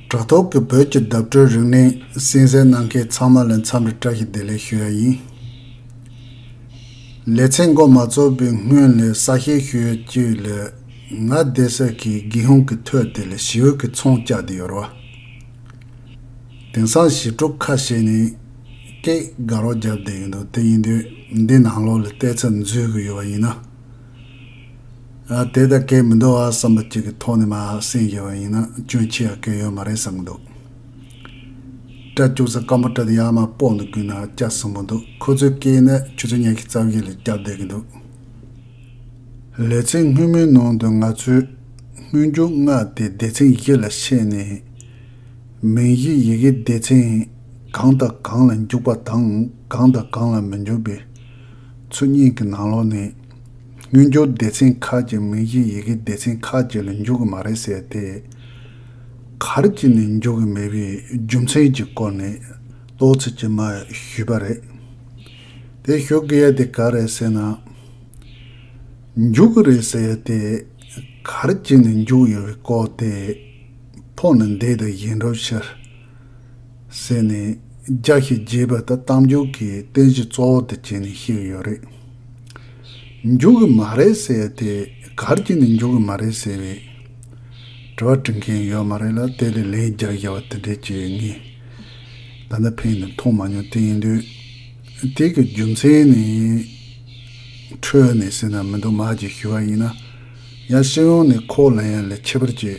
དྲ་ཐོག་གི་བོད་ཀྱི་བརྡ་སྤྲོད་རིང་ལན་གསན་གསན་གནང་མཁན་ཚང་མ་ལ་འཚམས་རེ་བཀྲ་ཤིས་བདེ་ལེགས་ཞུ་ཡ་ཡིན། ལེ་ཚན་འགོ་མ་ཚོགས་པའི་སྔོན་ལ་ས་བཤེར་ཞུ་ཡ་བཅུ་ལ་ང་བསྡད་ས་གི་དགེ་ཧུང་གི་ཐོད་དེ་ལ་ཞི་འོད་ཀྱི་ཚོང་བཅག་དེ་ཡོར་བ། དེང་སང་ཞི་ཕྲུག་ཁ་ཤས་ནས་སྐད་དགའ་རོགས་རྒྱབ་བསྡད་ཡོད་འདུག་དེ་ཡིན་དུས་འདི་ནང་ལོགས་ལ་བལྟས་ཚ་འཛུལ་གི་ཡོད་བ་ཡིན་ན། དེ་ལྟར་སྐད་མི་འདོར་བར་བསམ་པ་གཅིག་གི་ཐོག་ནས་མ་སེམས་བཞེས་པ་ཡིན་ན་སྐྱོན་ཆེ་ཡང་སྐྱོན་ཡོད་མ་རེད་བསམ་གྱི་འདུག། སྐྲ་བཅུག་ས་སྐམ་པོ་སྐྲ་དེ་ཡར་མར་སྤོག་འདུག་རྒྱུན་ན་སྐྱ་གསོན་པོ་འདུག་ཁོ་ཚོའི་སྐད་ནི་ཆུ་ཚོད་ཉག་གི་རྩ་བཞི་ལ་སྐྱར་སྡོད་ཀྱི་འདུག། ལེ་ཚན་སྔོན་མོའི་ནང་དུ་ང་ཚོས་སྔོན་འཇུག་སྔགས་དེ་སྡེ་ཚན་བཞི་ལ་ཕྱེས་ནས། མིང་གཞིའི་ཡི་གེ་སྡེ་ཚན་གང་དང་གང་ལ་འཇུག་པ་དང་གང་དང་གང་ལ་མི་འཇུག་པའི། ཚོུད་གཉིས་ཀྱི་ནང་ལོགས་ནས། དངུལ་འབྱོར་སྡེ་ཚན་ཁག་ཅིག་མིང་གཞིའི་ཡི་གེ་སྡེ་ཚན་ཁག་ཅིག་ལ་འཇུག་གི་མ་རེད་ཟེར་ཏེ། གར་གྱིས་ནས་འཇུག་གི་མེད་པའི་རྒྱུ་མཚན་གྱི་སྐོར་ནས་ལོག་ཚིག་ཅིག་མ་ཞུས་པ་རེད། དེ་ཞུ་གི་ཡ་དེ་ག་རེད་ཟེར་ན། འཇུག་གི་རེད་ཟེར་ཡ་དེ། གར་གྱིས་ནས་འཇུག་ཡོད་པའི་སྐོར་དེ། ཕོག་ནས་འདས་དང་ཡིན་འགྲོ་ཕྱིར། ཟེར་ནས་རྒྱགས་ཤིག་རྒྱས་པ་ལྟར་གཏམ་རྒྱུད་ཀྱི་རྟེན་གཞི་གཙོ་བོ་དེ་བྱས་ནས་བཤད་ཡོད་རེད། འཇུག་གི་མ་རེད་ཟེར་དེ་གར་གྱི་ནས་འཇུག་གི་མ་རེད་ཟེར་བས། དྲི་བ་དྲི་མཁན་ཡོད་མ་རེད་ལ་དེ་ལས་ལན་བརྒྱ་བརྒྱ་བ་དེ་འདྲས་བྱེད་ངེས། ད་ནི་ཕན་ནི་མཐོང་མ་མྱོང་དེ་ཡིན་དུས། དེ་གི་རྒྱུ་མཚན་ནི། འཕྲོས་ནས་ཟེར་ན་མི་འདུག་མ་གྱི་ཞུ་བ་ཡིན་ན། ཡང་སྤྱི་ཡོངས་ནས་ཁོག་ལ་ཡང་ལས་ཁྱད་པར་ཅི།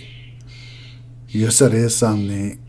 ཡོད་ས་རེད་བསམ་ནས་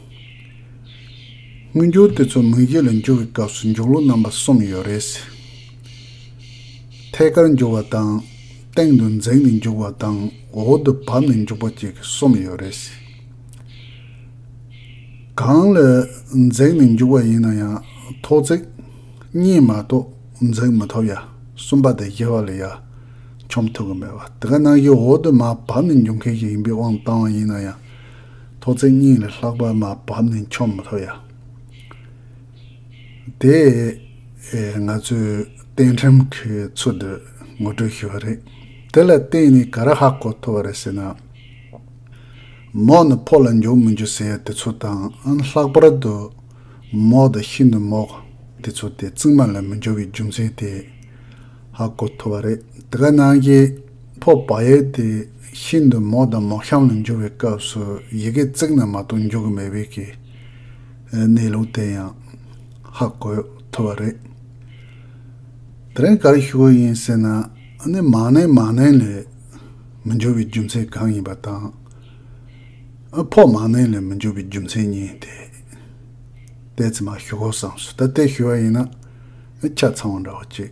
མངོན་འགྱུར་དེ་ཚོ་མུ་བཞི་ལ་འགྱུར་བའི་སྐབས་སུ་འཇུག་ལུགས་རྣམ་པ་གསུམ་ཡོད་རེད། ཐད་ཀར་འཇུག་བ་དང། སྟེང་དུ་འཛེགས་ནས་འཇུག་བ་དང་འོག་ཏུ་བབས་ནས་འཇུག་པ་བཅས་ཀྱི་གསུམ་ཡོད་རེད། གང་ལ་འཛེགས་ནས་འཇུག་པ་ཡིན་ན་ཡང་ཐོག་བརྩེགས་གཉིས་མ་གཏོགས་འཛེགས་མི་ཐུབ་ཡ། གསུམ་པ་དང་བཞི་བ་ལ་ཡ། འཆོམས་ཐུབ་ཀྱི་མེད་པ་དེ་ག་ནང་བཞིན་འོག་ཏུ་མ་བབས་ནས་འཇུག་མཁན་ཞིག་ཡིན་པའི་དབང་བཏང་བ་ཡིན་ན་ཡང། ཐོག་ཚད་སྙིང་ལས་ལྷག་པར་མ་བབས་ནས་འཁྱོམ་མ་ཐུབ་ཡ། དེས་ང་ཚོས་གཏན་ཁྲིམས་ཀྱི་ཚུལ་དུ་ངོ་སྤྲོད་ཞུས་པ་རེད། དེ་ལ་བརྟེན་ནས་ག་རེ་ཧ་གོ་ཐུབ་པ་རེད་ཟེར་ན། མོག་ནི་ཕོ་ལ་འཇུག་མི་འཇུག་ཟེར་དེ་ཚོ་དང་ལྷག་པར་དུ་མོག་དང་ཤིན་ཏུ་མོག་དེ་ཚོ་དེ་རྩིག་མ་ལ་མི་འཇུག་པའི་རྒྱུ་མཚན་དེ་ཧ་གོ་ཐུབ་པ་རེད། དེ་ག་ནང་གི། ཕོ་བ་ཡལ་ཏེ་ཤིན་ཏུ་མོག་དང་མོག་ཤམ་ལ་འགྱུར་བའི་སྐབས་སུ་ཡི་གེ་བརྩེགས་ན་མ་གཏོགས་འཇུག་གི་མེད་པས་ཀྱི། གནས་ལུགས་དེ་ཡང། ཧ་གོ་ཐུབ་པ་རེད། དེ་རིང་ག་རེ་ཞུ་དགོས་ཡིན་ཟེར་ན་ནི་མ་ནིང་མ་ནིང་ལས་མི་འགྱུར་བའི་རྒྱུ་མཚན་གང་ཡིན་པ་དང། ཕོ་མ་ནིང་ལས་མི་འགྱུར་བའི་རྒྱུ་མཚན་གཉིས་དེ། ལྟས་ཙི་མ་ཞུ་དགོས་བསམས་སོ་ད་ལྟས་ཞུ་བ་ཡིན་ན་ཆ་ཚང་བ་འདྲ་བོ་གཅིག།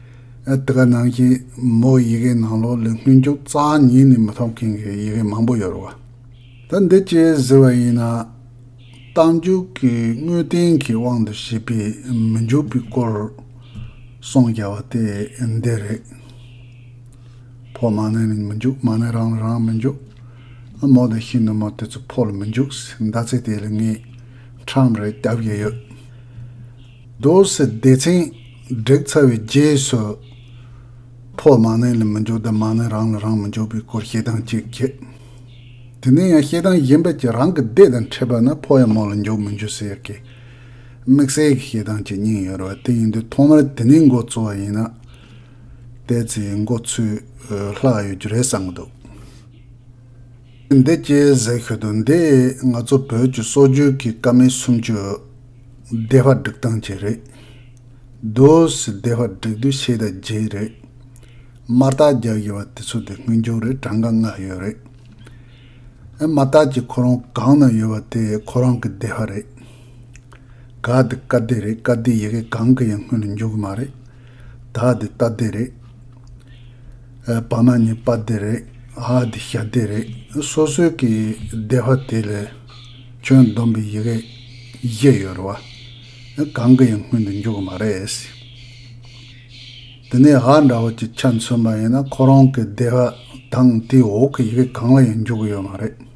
དེ་ག་ནང་བཞིན་མོ་ཡི་གེ་ནང་ལོགས་ལས་སྔོན་འཇུག་རྩ་གཉིས་ནས་མི་ཐོབ་མཁན་གྱི་ཡི་གེ་མང་པོ་ཡོད་རུང་བ། ད་འདི་སྤྱིར་ཟེར་བ་ཡིན་ན། རྟགས་འཇུག་གི་དངོས་བསྟན་གྱི་དབང་དུ་བྱས་པའི་མི་འཇུག་པའི་སྐོར་གསུངས་རྒྱ་བ་དེ་འདི་རེད། ཕོ་མ་ནི་མི་འཇུག་མ་ནི་རང་ལ་རང་མི་འཇུག། མོ་དེ་བཞིན་དུ་མོ་དེ་ཚོ་ཕོ་ལ་མི་འཇུག་ཟེར་མདའ་ཚིག་དེ་ལ་ངས་ཁྲམ་རེ་རྒྱབ་ཀྱི་ཡོད། རྡོ་བསེ་སྡེ་ཚན། བསྒྲིགས་ཚར་བའི་རྗེས་སུ། ཕོ་མ་ནི་ལ་མི་འཇོག་ཟླ་མ་ནི་རང་ལ་རང་མི་འཇོག་པའི་སྐོར་བཤད་སྟངས་གཅིག་བརྒྱུད། དེ་ནས་ཡང་བཤད་སྟངས་གཞན་པ་གཅིག་རང་གི་སྡེ་དང་འཕྲད་པ་ན་ཕོ་ཡང་མོ་ལ་འཇོག་མི་འཇོག་ཟེར་གི། དམིགས་བསལ་གྱི་བཤད་སྟངས་གཅིག་གཉིས་ཡོད་རུང་བ་དེ་ཡིན་དུས་ཐོག་མར་དེ་ནས་མགོ་འཚོ་བ་ཡིན་ན། དེ་ཚོའི་མགོ་འཚོས་ལྷག་ཡོད་རྒྱུ་རེད་བསམ་གྱི་འདུག། འདི་སྐྱེས་ཟེར་ཤོད་དོ་འདི་ང་ཚོ་བོད་ཀྱི་སྲོག་རྒྱུན་གྱི་བཀའ་མའི་སུམ་ཅུ། བདེ་བར་སྒྲིག་སྟངས་ཀྱི་རེད། རྡོ་སི་བདེ་བར་སྒྲིག་དུས་ཕྱེད་དང་བརྒྱད་རེད། དམར་རྟགས་རྒྱག་བཞིན་བ་དེ་ཚོ་དེ་སྔོན་འགྱུར་རེད་གྲངས་ཀ་ལྔ་ཡོད་རེད། དམར་རྟགས་ཀྱི་ཁོ་རང་གང་ན་ཡོད་བ་དེ་ཁོ་རང་གི་བདེ་བ་རེད། ག་དེ་བཀའ་བདེ་རེད་བཀའ་བདེའི་ཡི་གེ་གང་གི་ཡང་སྔོན་ལ་འགྱུར་གི་མ་རེད། དག་འདི་རྟ་སྡེ་རེད། བ་མ་ནི་པ་སྡེ་རེད། ཨ་འདི་ཞྭ་སྡེ་རེད། སོ་སོའི་གི་སྡེ་བ་དེ་ལས་ཁྱོད་བསྡོམས་པའི་ཡི་གེ་བཞི་ཡོད་རེད་བ། གང་གི་ཡང་སྔོན་དུ་འཇུག་གི་མ་རེད། དེ་ནས་ཨ་འདྲ་བོ་ཅིག་ཆ་མཚོན་པ་ཡིན་ན་ཁོ་རང་གི་སྡེ་བ་དང་དེའི་འོག་གི་ཡི་གེ་གང་ལ་ཡང་འཇུག་གི་ཡོད་མ་རེད།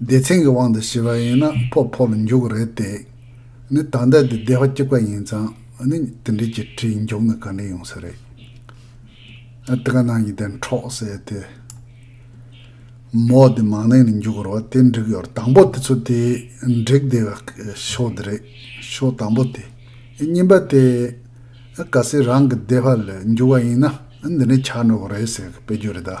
སྡེ་ཚན་གྱི་དབང་དུ་བྱས་པ་ཡིན་ན་ཕོ་ཕོ་ལ་འཇུག་གི་རེད་དེ། ནི་ད་ལྟ་དེ་སྡེ་བ་གཅིག་པ་ཡིན་ཙང་ནི་དེ་འདྲའི་གྱི་གྲི་འཇུག་ན་ག་འདྲ་ཡོང་ས་རེད། ཨ་ཏི་ཀ་ནང་གི་དེ་འཕྲོག་ཟེར་དེ། མོ་དེ་མང་ནས་ནི་འཇུག་རོ་དེ་འགྲིག་ཡོད་དང་པོ་དེ་ཚོ་དེ་འགྲིག་བསྡད་པ་ཤོག་དེ་རེད་ཤོག་དང་པོ་དེ། གཉིས་པ་དེ། ག་སེ་རང་གི་སྡེ་བ་ལ་འཇུག་བ་ཡིན་ན་འདི་འདྲ་ཆགས་འགྲོ་གི་རེད་ཟེར་གི་དཔེ་རྒྱུ་རེད་ད།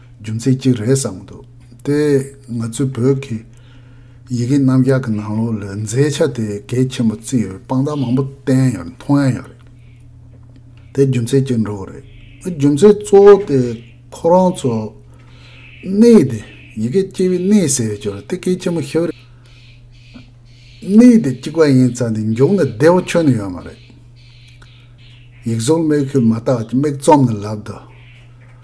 རྒྱུ་མཚན་གཅིག་རེད་བསམ་གྱི་འདུག་དེ་ང་ཚོའི་བོད་ཀྱི་ཡི་གེ་རྣམ་གཞག་གི་ནང་ལོགས་ལ་མཛེས་ཆ་དེ་གལ་ཆེན་པོ་བརྩི་ཡོད་དཔང་རྟགས་མང་པོ་བསྟན་ཡོད་མཐོང་ཡ་ཡོད་རེད། དེ་རྒྱུ་མཚན་གཅིག་འགྲོ་གི་རེད། རྒྱུ་མཚན་གཙོ་བོ་དེ་ཁོ་རང་ཚོ་གནས་དེ་ཡི་གེ་སྐྱེས་པའི་གནས་ཟེར་ཡོད་ཀྱི་རེད་དེ་གལ་ཆེན་པོ་ཤོས་རེད། གནས་དེ་གཅིག་པ་ཡིན་ཙང་དེ་མཇུག་ནས་བདེ་བོ་ཁྱོན་ནས་ཡོད་མ་རེད། ཡིག་གཟུགས་མིག་ཤུལ་མ་བརྟགས་ཀྱི་མིག་བཙུམ་ནས་ལབ་དུ།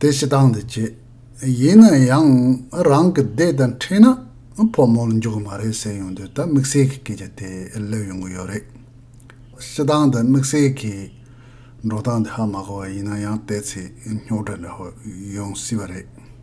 དེ་ཞེ་སྡང་དུ་བྱེད། ཡིན་ན་ཡང་རང་གི་སྡེ་དང་འཕྲད་ན་ཕོ་མོར་འཇུག་གི་མ་རེད་ཟེར་ཡོང་དུས་ད་དམིགས་བསལ་གྱི་སྐད་ཆ་དེ་སླེབས་ཡོང་གི་ཡོད་རེད། ཞེ་སྡང་དང་དམིགས་བསལ་གྱི་འགྲོ་སྟངས་དེ་ཧ་མ་གོ་བ་ཡིན་ན་ཡང་བལྟས་ཚེ་རྙོག་དྲ་འདྲ་བོ་ཡོང་སྲིད་པ་རེད།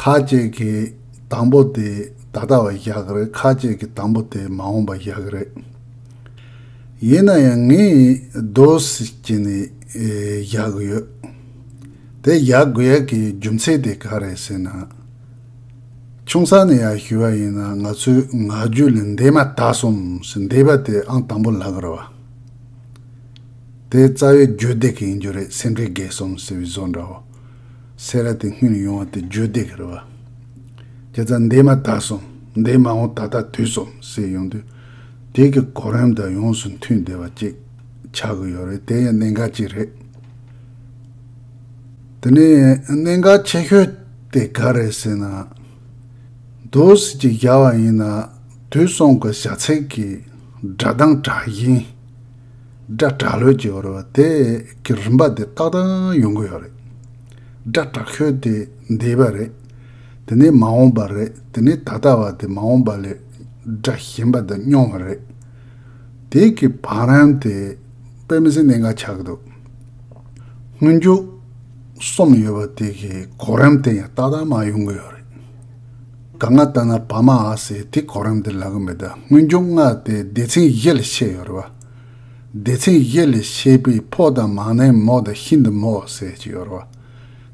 ཁ་ཅིག་གིས་དང་པོ་དེ་ད་ལྟ་བ་བཞག་གི་རེད་ཁ་ཅིག་གིས་དང་པོ་དེ་མ་འོངས་པ་བཞག་གི་རེད། ཡིན་ན་ཡང་ངས་རྡོ་བསིལ་གྱི་ནས་བཞག་གི་ཡོད། དེ་བཞག་དགོས་ཡ་གི་རྒྱུ་མཚན་དེ་ག་རེད་ཟེར་ན། ཆུང་ས་ནས་ཡ་ཞུས་བ་ཡིན་ན་ང་ཚོས་ང་རྒྱུད་ལ་འདས་མ་ད་སོམས་སུ་འདས་པ་དེ་ཨང་དང་པོ་ལག་ར་བ། དེ་རྩ་བའི་རྒྱུད་སྡེ་གི་ཡིན་རྒྱུ་རེད་སེམས་ཁྲལ་རྒས་སོམས་ཟེར་བའི་བཟོ་འདྲ་བོ། སེ་ར་དེ་སྔོན་ཡོང་བ་དེ་བརྗོད་བདེ་གི་རེད་བ། ཁྱེད་རྩ་འདེད་མ་དག་སོང་འདེད་མ་འོང་ད་ལྟ་དུས་སོང་ཟེར་ཡོང་དུས། དེ་གི་གོ་རིམ་དང་ཡོངས་སུ་མཐུན་བདེ་བ་ཅིག་ཆགས་གི་ཡོད་རེད་དེ་ཡང་གནད་འགག་ཅིག་རེད། དེ་ནས་གནད་འགག་ཆེ་ཤོས་དེ་ག་རེད་ཟེར་ན། རྡོ་བསིལ་གྱི་བཞག་བ་ཡིན་ན་དུས་སོང་གི་བཞག་ཚད་ཀྱི་སྒྲ་གདངས་དྲག་ཞིང། སྒྲ་དྲག་ལོད་ཀྱི་ཡོད་རེད་བ་དེ་གི་རིམ་པ་དེ་ཏག་ཏག་ཡོང་གི་ཡོད་རེད། སྒྲ་དྲག་ཤོས་དེ་འདས་པ་རེད། དེ་ནས་མ་འོངས་པ་རེད་དེ་ནས་ད་ལྟ་བ་དེ་མ་འོངས་པ་ལས་སྒྲ་ཞན་པ་དེ་སྙོམས་བ་རེད། དེ་གི་བང་རིམ་དེ་དཔེ་མི་སྲིད་གནད་འགག་ཆགས་ཀྱི་འདུག་སྔོན་རྒྱུགས་གསུམ་ཡོད་བ་དེ་གི་གོ་རིམ་དེ་ཡང་ཏག་ཏག་མ་ཡོང་གི་ཡོད་རེད། ད་ང་ལྟ་ན་བ་མ་ཨ་སི་དེ་གོ་རིམ་དེ་ལག་གི་མེད་ད་སྔོན་རྒྱུགས་ལྔ་དེ་སྡེ་ཚན་བཞི་ལ་ཕྱེ་ཡོད་རེད་བ། སྡེ་ཚན་བཞི་ལས་བྱེད་པའི་ཕོ་དང་མང་ནའི་མོ་དང་ཤིན་ཏུ་མོ་ཟེར་གྱི་ཡོད་རོ།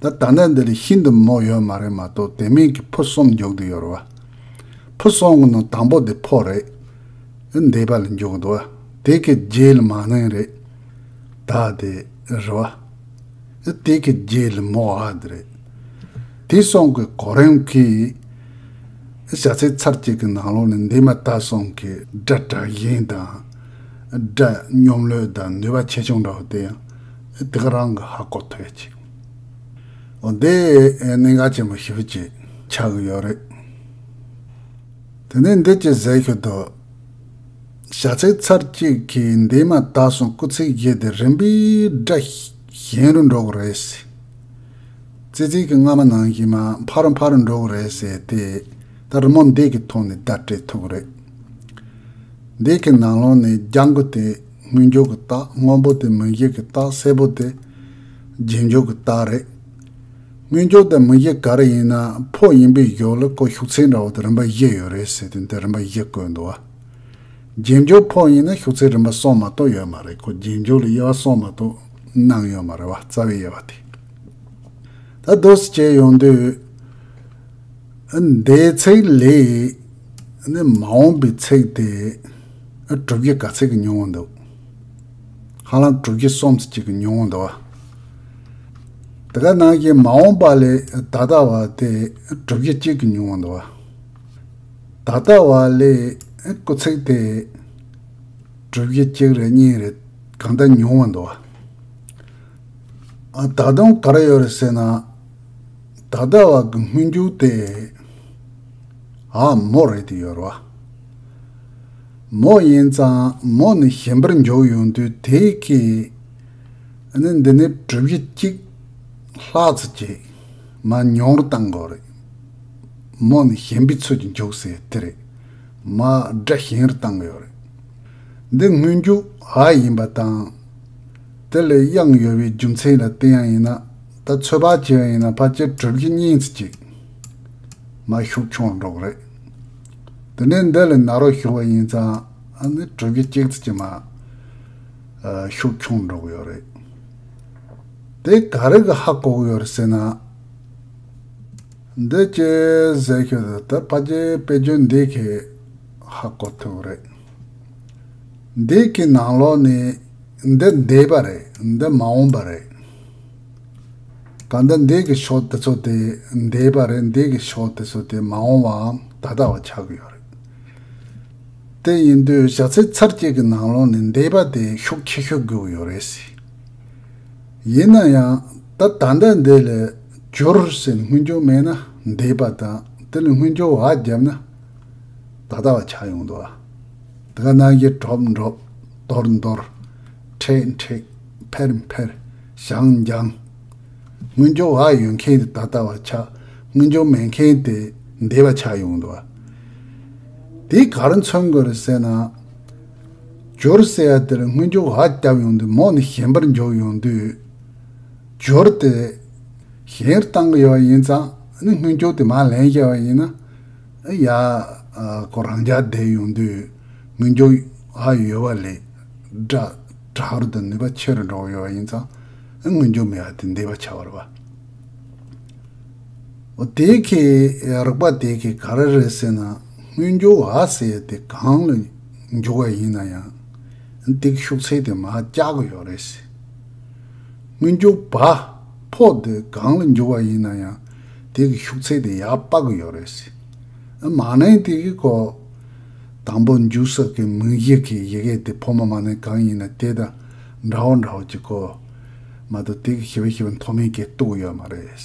ད་ད་ལྟ་འདི་ལ་ཤིན་ཏུ་མོ་ཡོད་མ་རེད་མ་གཏོགས་དེ་མིན་གྱི་ཕོ་གསུམ་འཇོག་དུ་ཡོད་རོ། ཕོ་གསུམ་གྱི་ནང་དང་པོ་དེ་ཕོ་རེད། འདས་པ་ལ་འཇོག་དུ། དེ་གའི་རྗེས་ལ་མང་ནའི་རེད། ད་དེ་རེད། དེ་གི་རྗེས་ལ་མོ་ཨ་དེ་རེད། དེ་སོང་གི་གོ་རིམ་གི། བྱ་ཚིག་ཚར་གཅིག་གི་ནང་ལོགས་ནས་འདས་མ་ད་སོང་གི་སྒྲ་དྲག་ཞན་དང། སྒྲ་སྙོམས་ལོས་དང་ནུས་པ་ཆེ་ཆུང་འདྲ་བ་དེ་ཡང་དེ་ག་རང་གི་ཧ་གོ་ཐོས་ཅིག། འོ་འདི་གནད་འགག་ཆེན་པོ་ཞིབ་ཅིག་ཆགས་གི་ཡོད་རེད། དེ་ནས་འདི་ཅི་ཟེར་ཤོད་དོ། བྱ་ཚིག་ཚར་གཅིག་གི་འདས་མ་ད་སོང་སྐུ་ཚེགས་བཞི་དེ་རིམ་པས་སྒྲ། གཞན་རུ་འགྲོ་གི་རེད། ཙི་ཙིའི་གི་རྔ་མ་ནང་བཞིན་མ་ཕ་རུ་ཕ་རུ་འགྲོ་གི་རེད་ཟེར་ཏེ། ད་རི་མོ་འདི་གི་ཐོག་ནས་བརྡ་སྤྲད་ཐུབ་གི་རེད། འདི་གི་ནང་ལོགས་ནས་རྒྱ་མགོ་དེ་དངུལ་འཇོག་གི་རྟགས་སྔོན་པོ་དེ་མི་གཞི་གི་རྟགས་སེར་པོ་དེ་རྗེས་འཇོག་གི་རྟགས་རེད། དངུལ་འཇོག་དེ་མི་གཞི་ག་རེ་ཡིན་ན་ཕོ་ཡིན་པའི་གཞོགས་ལ་ཀོ་ཤུགས་ཚད་འདྲ་བོ་དེ་རིམ་པ་བཞི་ཡོད་རེད་ཟེར་ཏེ་འདི་རིམ་པ་བཞི་བཀོད་འདུག་བ། རྒྱན་འཇོག་ཕོག་ཡིན་ན་ཤོག་ཚིག་རིམ་པ་སོང་མ་གཏོགས་ཡོད་མ་རེད་ཁོ་རྒྱན་འཇོག་ལ་དབྱེ་བ་སོང་མ་གཏོགས་གནང་ཡོད་མ་རེད་བ་རྩ་བའི་དབྱེ་བ་དེ་ད་བཟློས་སུ་བྱས་ཡོང་དུས་ཨ་འདའི་ཚིག་ལས་ནི་མ་འོངས་པའི་ཚིག་དེ་ཨ་དྲུག་གི་ག་ཚིག་གི་ཉུང་བ་འདུག་ཧ་ལམ་དྲུག་གི་སུམ་ཚིག་ཅིག་གི་ཉུང་བ་འདུག་བ་དེ་ག་ནང་བཞིན་མ་འོངས་པ་ལས་ད་ལྟ་བ་དེ་ཨ་དྲུག་གི་གཅིག་གི་ཉུང་བ་འདུག་བ། ད་ལྟ་བ་ལས་སྐུ་ཚེགས་དེ། གྲུབ་བཞི་གཅིག་རེ་གཉིས་རེ་གང་ལྟར་ཉུང་བར་འདུག་བ། ད་དུང་ག་རེ་ཡོད་རེད་ཟེར་ན། ད་ལྟ་བ་གི་སྨོན་འཇུག་དེ། ཨ་མོ་རེད་དེ་ཡོད་རེད་བ། མོ་ཡིན་ཙང་མོ་ནི་གཞན་པར་འཇོག་ཡོང་དུས་དེ་གས་ནི་འདི་ནི་གྲུབ་བཞི་གཅིག་ལྷག་ཙི་གཅིག་མ་ཉུང་རུ་བཏང་དགོས་རེད། མོ་ནི་གཞན་པའི་ཚོད་ཀྱིས་འཇོག་སའི་དེ་རེད། མ་སྒྲ་གཞན་རུ་བཏང་ཡོད་རེད། འདི་དངོས་རྒྱུགས་ཨ་ཡིན་པ་དང། དེ་ལས་དབྱངས་ཡོལ་བའི་རྒྱུ་མཚན་ལ་བལྟས་ཡང་ཡིན་ན་ད་ཚོད་ཕག་བྱས་ཡིན་ན་ཕ་ཅེ་གྲུབ་ཀྱི་སྙིང་ཚིག་ཅིག་མ་ཤུགས་ཆུང་སྒྲོག་རེད། དེ་ནས་འདི་ལས་ན་རོ་ཞུ་བ་ཡིན་ཙང་ཨ་ནི་གྲུབ་ཀྱི་སྐྱེག་ཚིག་ཅིག་མ་ཤུགས་ཆུང་སྒྲོག་ཡོད་རེད། དེ་ག་རེ་གི་ཧ་གོག་ཡོད་རེད་ཟེར་ན། འདི་ཅི་ཟེར་ཤོད་དུ་དེ་ཕ་གྱི་དཔེ་རྒྱུན་འདི་གི་ཧ་གོ་ཐུབ་རེད། འདི་གི་ནང་ལོག་ནི་འདི་འདས་པ་རེད་འདི་མ་འོངས་པ་རེད། གང་ལྟར་འདི་གི་ཕྱོགས་དེ་ཚོ་དེ་འདས་པ་རེད་འདི་གི་ཕྱོགས་དེ་ཚོ་དེ་མ་འོངས་བའམ་ད་ལྟ་བ་ཆགས་ཀྱི་ཡོད་རེད། དེ་ཡིན་དུས་བྱ་ཚིག་ཚར་གཅིག་གི་ནང་ལོག་ནི་འདས་པ་དེ་ཤུགས་ཆེ་ཤོས་དགོས་ཀྱི་ཡོད་རེད། ཡིན་ན་ཡང་ད་ལྟ་འདི་འདི་ལས་འགྱུར་ཟེར་སྔོན་འགྱུར་མེད་ན་འདས་པ་དང་དེ་ལས་སྔོན་འགྱུར་བ་བརྒྱབ་ན་ད་ལྟ་བ་ཆགས་ཡོང་དུ་བ། དེ་ག་ནང་གི་གྲོབ་འགྲོབ། འདོར་འདོར། མཁྲེགས་མཁྲེགས། འཕེར་འཕེར། འགྱངས་འགྱངས། སྔོན་འགྱུར་བ་ཡོད་མཁན་དེ་ད་ལྟ་བ་ཆགས་སྔོན་འགྱུར་མེད་མཁན་དེ་འདས་པ་ཆགས་ཡོང་དུ་བ། དེ་གར་མཚོན་དགོས་རེད་ཟེར་ན། སྦྱོར་ཟེར་ཡ་དེར་སྔོན་སྦྱོར་བ་བསྐྱབས་ཡོང་དུས་མོ་ནི་གཞན་པར་འཇོག་ཡོང་དུས། སྦྱོར་དེ། གཞན་རུ་གཏང་གི་ཡོད་པ་ཡིན་ཙང་ནི་སྔོན་སྦྱོར་དེ་མ་ལན་བཤད་པ་ཡིན་ན། ཨི་ཡ། ཁོ་རང་འཇགས་བསྡད་ཡོང་དུས་སྔོན་སྦྱོར་བ་ཡོད་པ་ལས། སྒྲ་རུ་དང་ནུས་པ་ཆེ་རུ་འགྲོ་གི་ཡོད་པ་ཡིན་ཙང་ཨི་སྔོན་སྦྱོར་མེད་པ་དེ་འདས་པ་ཆགས་པར་བ། འོ་དེ་གས་རགས་པ་དེ་གས་ག་རེ་རེད་ཟེར་ན་སྔོན་སྦྱོར་བ་ཟེར་ཡ་དེ་གང་ལ། འཇུག་བ་ཡིན་ན་ཡང་སྡིག་ཤུགས་ཚད་དེ་མ་སྐྱག་གི་ཡོད་རེད། སྔོན་འཇུག་བ་ཕོ་དེ་གང་ལ་འཇུག་བ་ཡིན་ན་ཡང་དེ་གི་ཤུགས་ཚད་དེ་ཡག་པ་གི་ཡོད་རེད། མ་ནིང་དེ་གི་གོ། དང་པོ་འཇུག་ས་གི་མིང་གཞི་གི་ཡི་གེ་དེ་ཕོ་མོ་མ་ནིང་གང་ཡིན་ན་དེ་དང་འདྲ་བོ་འདྲ་བོ་གི་གོ། མ་དོ་དེ་གི་ཞི་བ་ཞི་བ་མཐོ་དམན་གི་གཏུག་གི་ཡོད་མ་རེད།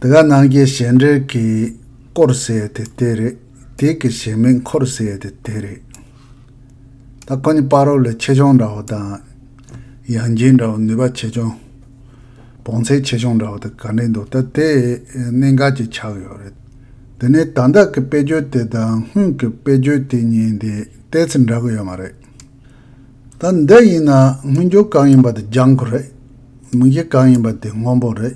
དེ་ག་ནང་གི་གཞན་འགྲེལ་གྱི་སྐོར་ཟེར་དེ་དེ་རེད། དེ་གི་གཞན་མིང་འཁོར་ཟེར་དེ་དེ་རེད། ད་ཁོ་ནི་དཔའ་རོགས་ལས་ཆེ་ཆུང་འདྲ་བོ་དང། ཡང་སྦྱིན་འདྲ་བོ་ནུས་པ་ཆེ་ཆུང། བོངས་ཚད་ཆེ་ཆུང་འདྲ་བོ་དེ་ག་འགྲིག་འདུག་ད་དེ་གནད་འགག་ཅིག་ཆགས་ཡོད་རེད། དེ་ནས་དང་བདག་གི་དཔེ་བརྗོད་དེ་དང་སྔོན་གྱི་དཔེ་བརྗོད་དེ་གཉིས་དེ་ལྟས་ཚེ་འདྲ་གི་ཡོད་མ་རེད། ད་འདི་ཡིན་ན་སྔོན་འགྱུར་གང་ཡིན་པ་དེ་ལྗང་ཁུ་རེད། མིག་དབྱེ་གང་ཡིན་པ་དེ་སྔོན་པོ་རེད།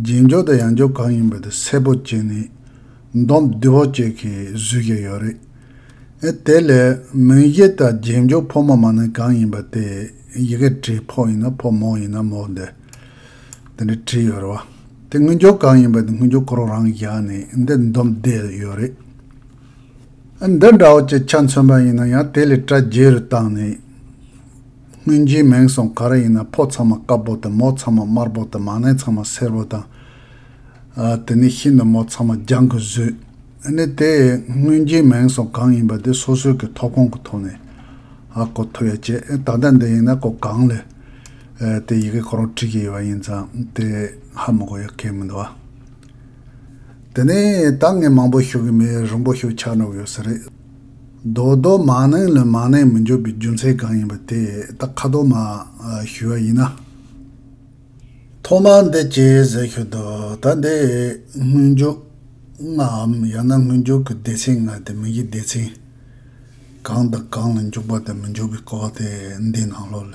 རྗེས་འཇུག་དང་ཡང་འཇུག་གང་ཡིན་པ་དེ་སེར་པོ་བཅས་ནི། མདོ་བདུད་བོ་བཅས་ཀྱིས་བཟོས་ཀྱི་ཡོད་རེད། ཨེ་དེ་ལས་མིག་དབྱེ་དང་རྗེས་འཇུག་ཕོ་མོ་མ་ནི་གང་ཡིན་པ་དེ་ཡི་གེ་བྲིས་ཕོ་ཡིན་ན་ཕོ་མོ་ཡིན་ན་མོ་འདི་འདི་འདྲ་བྲིས་ཡོད་རེད་བ། དེ་སྔོན་འགྱུར་གང་ཡིན་པ་དེ་སྔོན་འགྱུར་ཁོ་རང་རང་གིས་བཞག་ནས་འདི་མདོ་བདེ་ཡོད་རེད། འདི་འདྲ་བོ་ཅི་ཆ་མཚོན་པ་ཡིན་ན་ཡང་དེ་ལས་དྲ་རྒྱའི་རུ་བཏང་ནས། སྔོན་རྗེས་མིང་སོང་ག་རེ་ཡིན་ན་ཕོ་ཚང་མ་དཀར་པོ་དང་མོ་ཚང་མ་དམར་པོ་དང་མ་ནེ་ཚང་མ་སེར་པོ་དང། དེ་ནས་ཤིན་ཏུ་མོ་ཚང་མ་རྒྱང་གིས་བཟོས། ནི་དེ་སྔོན་རྗེས་མིང་སོང་གང་ཡིན་པ་དེ་སོ་སོའི་གི་ཐོབ་ཁོངས་ཀྱི་ཐོག་ནས་ཨ་གོ་ཐུབ་ཡ་ཆེ་ད་ལྟ་འདི་ཡིན་ན་གོ་གང་ལས་དེ་ཡི་གེ་ཁོ་རང་བྲིས་ཀྱི་ཡོད་པ་ཡིན་ཙང་དེ་ཧ་མི་གོ་ཡ་གལ་མི་འདུག་ཨ། དེ་ནས་ད་ངས་མང་པོ་ཤོད་ཀྱི་མེད་རིང་པོ་ཤོད་ཆགས་ནོར་ཡོད་ས་རེད། རྡོ་རྡོ་མ་ནིང་ལ་མ་ནིང་མི་འཇོག་པའི་རྒྱུ་མཚན་གང་ཡིན་པ་དེ་ད་ཁ་དོག་མ་ཞུས་བ་ཡིན་ན། ཐོག་མར་འདི་སྐྱེས་ཟེར་ཤོད་དོ་ད་འདི་སྔོན་འཇོག་ངའམ་ཡང་ན་སྔོན་འཇོག་གི་སྡེ་ཚན་ང་དེ་མིན་གྱི་སྡེ་ཚན་གང་དང་གང་ལ་འཇོག་པ་དང་མི་འཇོག་པའི་སྐོར་དེ་འདི་ནང་ལོགས་ལ་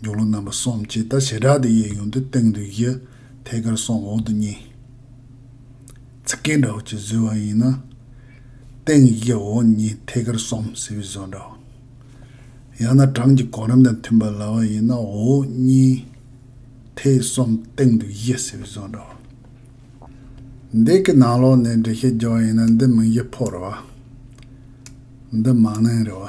མཇུག་གློག་རྣམ་པ་གསུམ་ཅེས་ལྟར་བྱེ་བྲག་ཏུ་དབྱེ་ཡོང་དུས་སྟེང་དུ་བཞི། ཐད་ཀར་གསུམ་འོག་ཏུ་གཉིས། ཚིག་སྐད་འདྲ་བོ་ཅིག་བཟོས་བ་ཡིན་ན། སྟེང་བཞི་འོག་གཉིས་ཐད་ཀར་གསུམ་ཟེར་བའི་བཟོ་འདྲ་བ། ཡང་ན་གྲངས་ཀྱི་གོ་རིམ་དང་མཐུན་པར་ལ་བ་ཡིན་ན་འོག་གཉིས། ཐད་གསུམ་སྟེང་དུ་བཞི་ཟེར་བའི་བཟོ་འདྲ་བ། འདི་གི་ནང་ལོགས་ནས་འགྲེལ་བཤད་རྒྱག་བ་ཡིན་ན་འདི་མིང་གཞི་ཕོག་རེད་བ། འདི་མང་ནན་རེད་བ།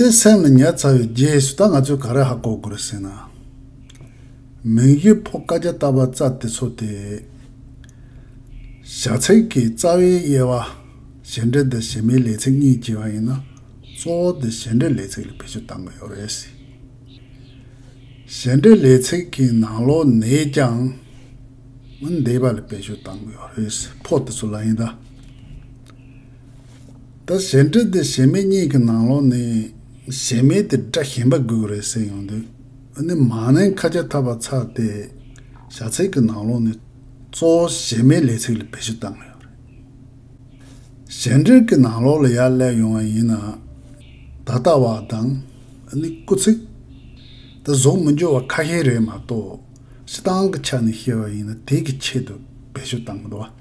ཏེ་སེམས་ལ་ཉར་ཚར་བའི་རྗེས་སུ་ད་ང་ཚོས་ག་རེ་ཧ་གོ་དགོས་ཟེར་ན། མིང་གཞི་ཕོ་བཀའ་རྒྱ་བཏབ་པ་རྩ་དེ་ཚོ་སྟེ། བྱ་ཚིག་གི་རྩ་བའི་དབྱེ་བ། གཞན་འབྲེལ་དང་གཞན་མའི་ལས་ཚིག་གཉིས་བགྱི་བ་ཡིན་ན། གཙོ་བོ་དེ་གཞན་འབྲེལ་ལས་ཚིག་ལ་བེད་སྤྱོད་བཏང་གི་ཡོད་རེད། གཞན་འབྲེལ་ལས་ཚིག་གི་ནང་ལོ་ནས་ཀྱང། འདས་པ་ལ་བེད་སྤྱོད་བཏང་གི་ཡོད་རེད། ཕོ་དེ་ཚོ་ལ་ཡིན་ད། ད་གཞན་སྒྲིག་དེ་གཞན་མེད་གཉིས་ཀྱི་ནང་ལོགས་ནས་གཞན་མེད་དེ་སྒྲ་གཞན་པ་དགོས་ཀྱི་རེད་ཟེར་ཡོང་དུས་ཨ་ནི་མ་ནིང་ཁ་ཆ་འཐབ་པ་ཚར་ཏེ་བྱ་ཚིག་གི་ནང་ལོགས་ནས་གཙོ་བོ་གཞན་མེད་ལས་ཚིག་ལ་བེད་སྤྱོད་བཏང་གི་ཡོད་རེད། གཞན་སྒྲིག་གི་ནང་ལོགས་ལ་ཡར་སླེབས་ཡོང་བ་ཡིན་ན་ད་ལྟ་བ་དང་ཨ་ནི་སྐུ་ཚིག་ད་གཟུགས་མི་འགྱུར་བ་ཁ་ཤས་རེད་མ་གཏོགས་སྤྱི་སྟངས་ཀྱི་ཆ་ནས་བཤད་པ་ཡིན་ན་དེ་གི་ཆེད་དུ་བེད་སྤྱོད་བཏང་གི་འདུག་བ།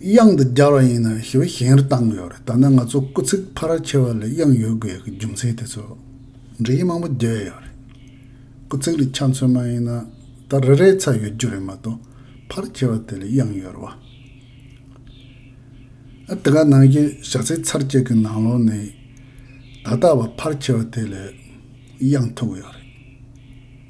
དབྱངས་འདི་སྦྱར་བ་ཡིན་ནམ་ཞེས་པའི་ཞེན་རེ་བཏང་ཡོད་རེད་ད་ནི་ང་ཚོ་སྐུ་ཚིགས་ཕ་ར་ཆེ་བ་ལས་དབྱངས་ཡོད་དགོས་ཀྱི་རྒྱུ་མཚན་དེ་ཚོ་འབྲི་ཡི་མང་པོ་བརྗོད་ཡོད་རེད། སྐུ་ཚིགས་ལས་ཆ་མཚོན་མ་ཡིན་ན་ད་རེ་རེའི་ཚ་ཡོད་རྒྱུ་རེད་མ་གཏོགས་ཕ་ར་ཆེ་བ་དེ་ལས་དབྱངས་ཡོད་རེད་བ། ཨ་དེ་ག་ནང་བཞིན་བཞག་ཚེ་ཚར་གཅིག་གི་ནང་ལོགས་ནས་ད་ལྟ་བ་ཕ་ར་ཆེ་བ་དེ་ལས་དབྱངས་ཐུག་ཡོད་རེད།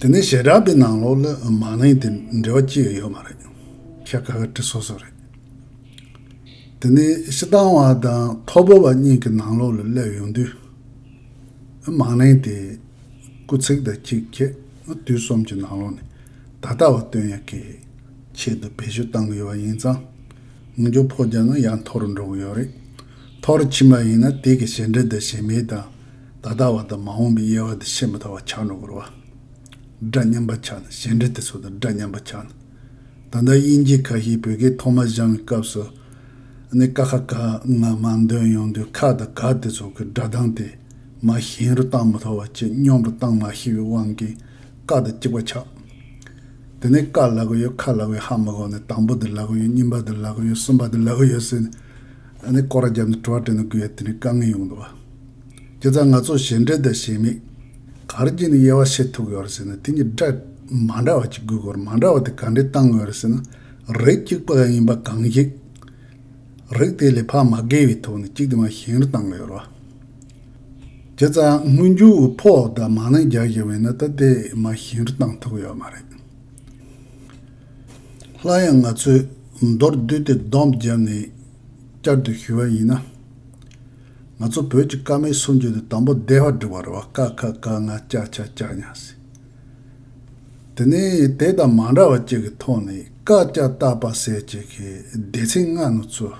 དེ་ནས་ཞེ་དྲག་པའི་ནང་ལོགས་ལ་མ་གླེང་དེ་འབྲེལ་བ་ཅི་ཡོད་ཡོད་མ་རེད། ཤ་ཁ་ཁ་དྲི་སོ་སོ་རེད། དེ་ནས་ཤི་དང་བ་དང་ཐོ་བོ་བ་གཉིས་ཀྱི་ནང་ལོགས་ལ་སླེབས་ཡོང་དུས། མ་གླེང་དེ་སྐུ་ཚེགས་དང་གཅིག་ཁྱེད་དུས་གསུམ་གྱི་ནང་ལོགས་ནས་ད་ལྟ་བ་སྟོན་ཡག་གི་ཆེད་དུ་བེད་སྤྱོད་གཏང་གི་ཡོད་པ་ཡིན་ཙང། ངུ་འཇོ་ཕོ་བརྒྱག་ན་ཡང་འཐོར་འགྲོ་གི་ཡོད་རེད། འཐོར་ཕྱིན་པ་ཡིན་ན་དེ་གི་ཞེ་འདྲི་དང་ཞེ་མེད་དང། ད་ལྟ་བ་དང་མ་འོངས་པའི་དབྱེ་བ་དེ་ཤེས་མི་ཐུབ་པ་ཆགས་འགྲོ་གི་རེད། སྒྲ་སྙན་པ་ཆགས་ན་གཞན་འབྲེལ་དེ་ཚོ་དང་སྒྲ་སྙན་པ་ཆགས་ན། ད་ལྟ་དབྱིན་སྐད་ཁ་ཤས་བོད་སྐད་ཐོག་མ་སྦྱང་བའི་སྐབས་སུ། ནི་ཀ་ཁ་ཀ་ང་མ་འདོན་ཡོང་དུས་ཁ་དང་ག་དེ་ཚོ་གི་སྒྲ་གདངས་དེ་མ་གཞན་རུ་གཏང་མི་ཐུབ་བ་ཆེས་སྙོམས་པོ་གཏང་མ་ཤེས་པའི་དབང་གིས་ཀ་དང་གཅིག་པ་ཆགས། དེ་ནས་ཀ་ལ་གོ་ཡོད་ཁ་ལ་གོ་ཡོད་ཧ་མི་གོ་ནི་དང་པོ་དེ་ལ་གོ་ཡོད་གཉིས་པ་དེ་ལ་གོ་ཡོད་གསུམ་པ་དེ་ལ་གོ་ཡོད་ཟེར་ནས། ནི་སྐོར་ར་བརྒྱབ་ནས་དྲོ་བ་དྲན་ནས་དགོས་ཡ་དེ་ནས་དཀའ་ངལ་ཡོང་འདུག་བ། ཁྱེད་ཚང་ང་ཚོ་ཞེ་འགྲས་དང་ཞེ་མིག། ག་རེ་གྱིས་ནས་དབྱེ་བ་ཕྱེ་ཐུབ་ཡོད་རེད་ཟེར་ན་དེ་གཉིས་སྒྲ་མ་འདྲ་བ་གཅིག་གི་སྐོར་མ་འདྲ་བ་དེ་ག་འདྲས་བཏང་ཡོད་རེད་ཟེར་ན། རིགས་གཅིག་པ་ཡིན་པ་གང་ཞིག། རིགས་དེ་ལས་ཕ་མ་སྒེར་བའི་ཐོག་ནས་གཅིག་དེ་མ་གཞན་རེ་བཏང་ཡོད་རེད། ཁྱེད་ཚང་སྔོན་འགྱུར་བའི་ཕོག་དང་མ་ནིང་རྒྱག་བཞིན་པའི་ནི་ད་ལྟའི་མ་གཞན་རེ་བཏང་ཐུབ་ཡོད་མ་རེད། སླར་ཡང་ང་ཚོས་མདོར་བསྡུས་ཏེ་བསྡོམས་བརྒྱབ་ནས་བསྐྱར་དུ་ཞུ་བ་ཡིན་ན། ང་ཚོ་བོད་ཀྱི་བཀའ་མའི་སྲོལ་འབྱེད་དུ་དང་པོ་བདེ་བར་བསྒྲིགས་པ་རེད་བ་ཀ་ཁ་ཀ་ང་ལྕགས་ཆ་ལྕགས་ཉག་སི། དེ་ནས་དེ་དང་མ་འདྲ་བ་གཅིག་གི་ཐོག་ནས་བཀའ་ལྕགས་བཏགས་པ་ཟེར་བཅས་ཀྱི་སྡེ་ཚན་ལྔ་ནུ་ཚོས་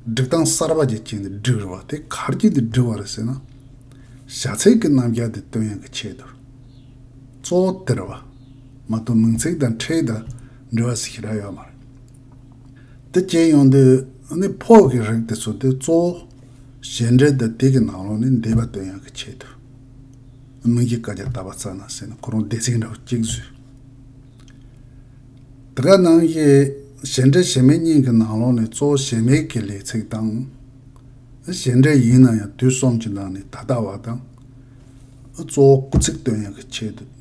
བསྒྲིགས་སྟངས་གསར་པ་ཅིག་བྱས་ནས་བསྒྲིགས་རེད་བ་དེ་ག་རྒྱུ་དེ་བསྒྲིགས་བ་རེད་ཟེར་ན། བྱ་ཚིག་གི་རྣམ་བཞག་དེ་སྟོན་ཡང་གི་ཆེད་དུ། གཙོ་བོ་དེ་རེད་བ། མ་གཏོགས་མིང་ཚིག་དང་ཕྲད་དང་འབྲེལ་བ་ཟིག་ཞིག་རག་ཡོད་མ་རེད། དེ་སྐྱེལ་ཡོང་དུས་ནི་ཕོག་གི་རིགས་དེ་ཚོ་དེ་གཙོ་བོ། གཞན་འབྲེལ་དེ་དེ་གི་ནང་ལོགས་ནས་འདས་པ་དོན་ཡག་གི་ཆེད་དུ། མིང་གི་བཀའ་རྒྱ་བཏབ་པ་རྩ་ན་བཟས་ནས་ཁོ་རང་བདེ་ཚིག་འདྲ་བོ་གཅིག་བཟོས། དེ་ག་ནང་བཞིན་གཞན་འབྲེལ་གཞན་མེད་གཉིས་ཀྱི་ནང་ལོགས་ནས་གཙོ་བོ་གཞན་མེད་ཀྱི་ལས་ཚིག་དང། གཞན་འབྲེལ་ཡིན་ན་ཡང་དུས་གསུམ་གྱི་ནང་ནས་ད་ལྟ་བ་དང། གཙོ་བོ་སྐུ་ཚིག་དོན་ཡག་གི་ཆེད་དུ།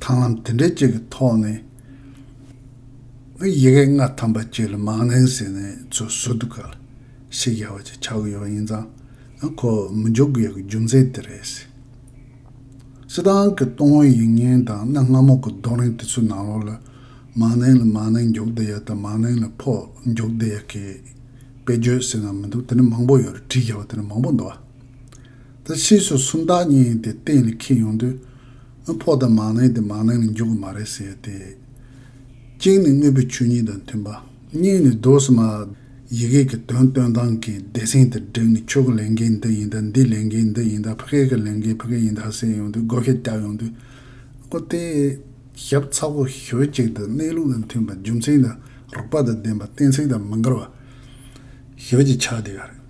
དང་ལམ་དེ་འདྲའི་གཅིག་གི་ཐོག་ནས་ཡི་གེ་ལྔ་ཐམ་པ་གཅིག་ལ་མང་ནིང་ཟེར་ནས་ཚུར་ཟུར་དུ་ག་ལ་ཞིག་ཡར་བ་ཅིག་ཆགས་ཀྱི་ཡོད་ཡིན་ཙང་ཡང་ཁོ་བོས་མི་འཇོག་གི་ཡོད་གི་རྒྱུ་མཚན་དེ་རེད། སི་ཏང་གི་ཏུང་ཧོན་ཡིག་རྙིང་དང་གནའ་སྔ་མོ་གི་རྡོ་རིང་དེ་ཚོའི་ནང་ལོགས་ལ་མང་ནིང་ལ་མང་ནིང་འཇོག་བདེ་ཡག་དང་མང་ནིང་ལ་ཕོག་འཇོག་བདེ་ཡག་གི་དཔེ་བརྗོད་ཟེར་ན་མི་འདུག་དེ་འདྲ་མང་པོ་ཡོད་རེད་བྲིས་རྒྱག་པ་དེ་འདྲ་མང་པོ་འདུག་ཨ། ད་ཕྱིས་སུ་སུམ་རྟགས་གཉིས་དེ་གཏན་ལ་འཁེལ་ཡོང་དུས། ཨ་ཕོག་དང་མང་ནའི་དེ་མང་ནའི་ནི་འཇུག་གི་མ་རེད་ཟེར་ཏེ། གཅིག་ནི་དངོས་པོའི་ཆོས་ཉིད་དང་མཐུན་པ། གཉིས་ནི་རྡོ་སྲི་མ། ཡི་གེ་ཀྱི་དོན་སྟོན་སྟངས་ཀྱི་སྡེ་ཚན་དེར་བསྒྲིགས་ནས་ཁྱོད་ཀྱི་ལས་འགན་འདི་ཡིན་ད་འདིའི་ལས་འགན་འདི་ཡིན་ད་ཕི་ཀའི་ཀྱི་ལས་འགན་ཕི་ཀའི་ཡིན་ད་ཟེར་ཡོང་དུས་བགོ་སྐལ་བརྒྱབ་ཡོང་དུས། ཨོ་དེ། ཞབས་ཚ་བོ་ཞོལ་ཅིག་དང་གནས་ལུགས་དང་མཐུན་པ་རྒྱུ་མཚན་དང་རོགས་པ་དང་ལྡན་པ་གཏན་ཚིགས་དང་མི་འགལ་བ། ཞོལ་གྱི་ཕྱག་དེ་ག་རེད།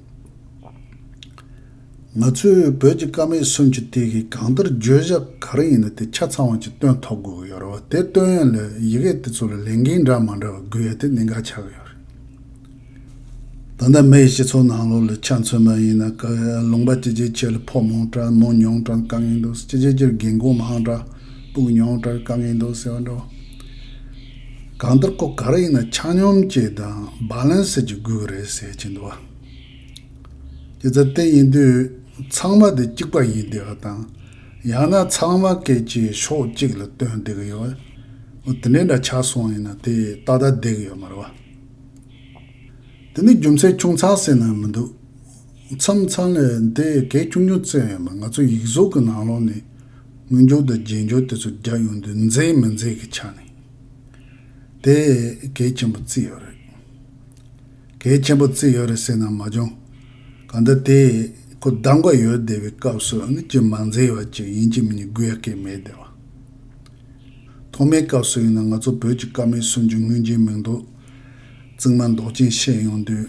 ང་ཚོས་བོད་ཀྱི་ཀ་མད་སུམ་ཅུ་སྟེ་གིས་གང་ལྟར་བརྗོད་བྱ་ག་རེ་ཡིན་ན་དེ་ཆ་ཚང་བ་ཅིག་སྟོན་ཐོབ་དགོས་ཀྱི་ཡོད་རེད་བ། དེ་སྟོན་ཡོད་ལ་ཡི་གེ་དེ་ཚོ་ལ་ལས་འགན་འདྲ་མ་འདྲ་བ་དགོས་ཡོད་དེ་གནད་འགག་ཆགས་ཀྱི་ཡོད་རེད། ད་ལྟ་མི་ཡི་སྤྱི་ཚོགས་ནང་ལོགས་ལ་ཆ་མཚོན་པ་ཡིན་ན་ཀ་ལུང་པ་སྤྱི་བྱེའི་ཆེད་ལ་ཕོག་མང་དྲག་གནང་མྱོང་དྲག་དཀའ་ངལ་འདུག་སྤྱི་བྱེའི་ཆེད་ལ་རྒན་རྒོན་མང་དྲག་སྤུག་མྱོང་དྲག་དཀའ་ངལ་འདུག་ཟེར་བ་འདྲ་བ། གང་ལྟར་ཁོ་ག་རེ་ཡིན་ན་ཆ་སྙོམས་ཀྱི་དང Balanced ཀྱི་དགོས་ཀྱི་རེད་ཟེར་གྱིན་འདུག་བ། ཇི་ལྟར་བལྟས་ཡིན་དུས་ཚང་མ་དེ་གཅིག་པ་ཡིན་བསྡད་པ་དང། ཡང་ན་ཚང་མ་སྐད་ཆའི་ཕྱོགས་གཅིག་ལ་བཏོན་བསྡད་ཀྱི་ཡོད་བ། དེ་འདྲའི་འདྲ་ཆགས་སོང་ཡིན་ན་དེ་ད་ལྟ་བསྡད་ཀྱི་ཡོད་མ་རེད་བ། དེ་ནི་རྒྱུ་མཚན་ཆུང་ཚགས་ཟེར་ན་མི་འདུག་བ། མཚམས་མཚམས་ལས་དེ་གས་ཆུང་ཆུང་བཙལ་ཡོང་ལ་ང་ཚོ་ཡིག་གཟུགས་ཀྱི་ནང་ལོགས་ནས་དངུལ་འབྱོར་དང་རྗེས་འབྱོར་དེ་ཚོ་རྒྱག་ཡོང་དུས་མཛེས་མི་མཛེས་ཀྱི་ཆ་ནས་དེ་གས་ཆེན་པོ་བརྩི་ཡོད་རེད། གས་ཆེན་པོ་བརྩི་ཡོད་རེད་ཟེར་ན་མ་འགྱང། གང་ལྟར་དེ་ཁོ་བདག་འགའ་ཡོད་བསྡད་པའི་སྐབས་སུ་ཡང་ཅི་མ་མཛེས་བ་ཅིག་ཡིན་གཅིག་མིན་གྱི་སྒུལ་ཡ་སྐད་མེད་བསྡད་པ། ཐོག་མའི་སྐབས་སུ་ཡིན་ན་ང་ཚོ་བོད་ཀྱི་སྐར་མའི་སུམ་ཅུ་དངུལ་འཇིགས་མིང་འདོགས་རྩིག་མ་འདོགས་ཅན་བཤད་ཡོང་དུས།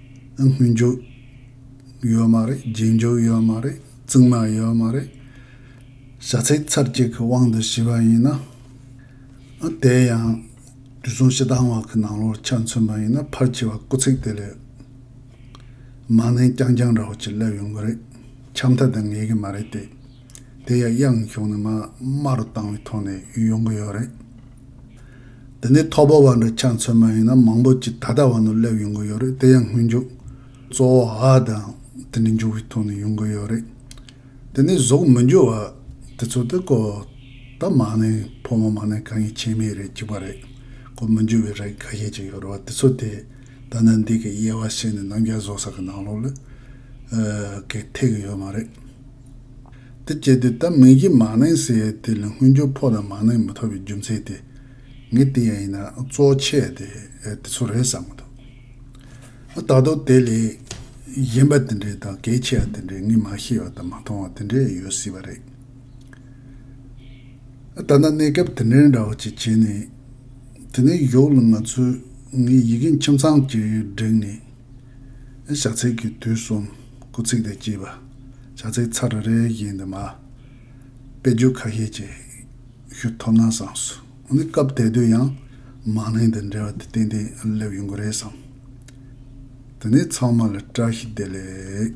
དངུལ་འཇོག་ཡོད་མ་རེད་རྗེས་འཇོག་ཡོད་མ་རེད་རྩིག་མ་ཡོད་མ་རེད། བྱ་ཚིག་ཚར་གཅིག་གི་དབང་དུ་བྱས་པ་ཡིན་ན། དེ་ཡང་དུས་མཚུངས་ཞེ་སྡང་བ་གི་ནང་ལོགས་ཆ་མཚོན་པ་ཡིན་ན་ཕར་བྱས་པ་སྐུ་ཚིག་དེ་ལས་མ་ནན་རྐྱང་རྐྱང་འདྲ་བོ་ཅིག་སླེབས་ཡོང་གི་རེད། ཆ་མཐའ་དེ་ངེས་ཀྱི་མ་རེད་དེ། དེ་ཡང་དབྱངས་གཞུང་ནས་མ་དམའ་རུ་བཏང་བའི་ཐོག་ནས་ཡོང་གི་ཡོད་རེད། འདི་ནི་ཐོག་བབས་བ་འདྲ་ཆ་མཚོན་མ་ཡིན་ན་མང་པོ་ཅི་ད་ལྟ་བ་ནོར་སླེབས་ཡོང་གི་ཡོད་རེད་དེ་ཡང་སྔོན་འཇུག་གཙོ་བོ་ཧ་དང་དེ་འདྲའི་འཇུག་གི་ཐོག་ནས་ཡོང་གི་ཡོད་རེད། དེ་ནས་གཟུགས་མི་འགྱུར་བ་དེ་ཚོ་དེ་ཀོ་ད་མ་ནས་ཕོ་མོ་མ་ནས་གང་ཡིན་ཆེད་མེད་རེད་ཅིག་པ་རེད་ཀོ་མི་འགྱུར་བའི་རེད་ག་ཤེད་ཅིག་ཡོད་རེད་བ་དེ་ཚོ་དེ་ད་ནི་འདི་གི་དབྱེ་བ་ཤེས་ནས་ནམ་རྒྱ་བཟོ་ས་གི་ནང་ལོགས་ལ་གི་ཐེག་གི་ཡོད་མ་རེད། དེ་སྐྱེས་དུས་ད་མིང་གཞི་མ་གནས་ཟེར་དེ་ལས་སྔོན་འགྱུར་ཕོག་ན་མ་གནས་མི་ཐུབ་པའི་རྒྱུ་མཚན་དེ། ངས་དེ་ཡང་ཡིན་ན་གཙོ་བོ་ཆེ་དེ་དེ་ཚོ་རེད་བསམ་མི་ཐུབ། ད་དུང་དེ་ལས་གཞན་པ་དེ་འདྲའི་དང་གལ་ཆེ་བ་དེ་འདྲའི་ངས་མ་ཤེས་པ་དང་མ་མཐོང་བ་དེ་འདྲའི་ཡོད་སྲིད་པ་རེད། ད་ལྟ་གནས་སྐབས་དེ་འདྲའི་འདྲ་བོ་ཅིག་བྱས་ནས། དེ་ནས་གཞོགས་ལ་ང་ཚོས་ངའི་ཡི་གེ་ཁྱིམ་ཚང་གཅིག་བསྒྲིགས་ནས། ཞག་ཚིགས་ཀྱི་དུས་གསུམ། སྐུ་ཚིགས་དེ་གཅིག་པ། བྱ་ཚིག་ཚ་རེ་རེ་བཞིན་དུ་མ། དཔེ་བརྗོད་ཁ་ཤས་ཀྱི་ཞུ་ཐོབ་ན་བསམས་སོ། འོ་ན་སྐབས་དེ་དུས་ཡང་མང་ལྷན་དུ་འབྲེལ་བ་དེ་ཏན་ཏན་སླེབས་ཡོང་གི་རེད་བསམས། དེ་ནས་ཚང་མ་ལ་བཀྲ་ཤིས་བདེ་ལེགས།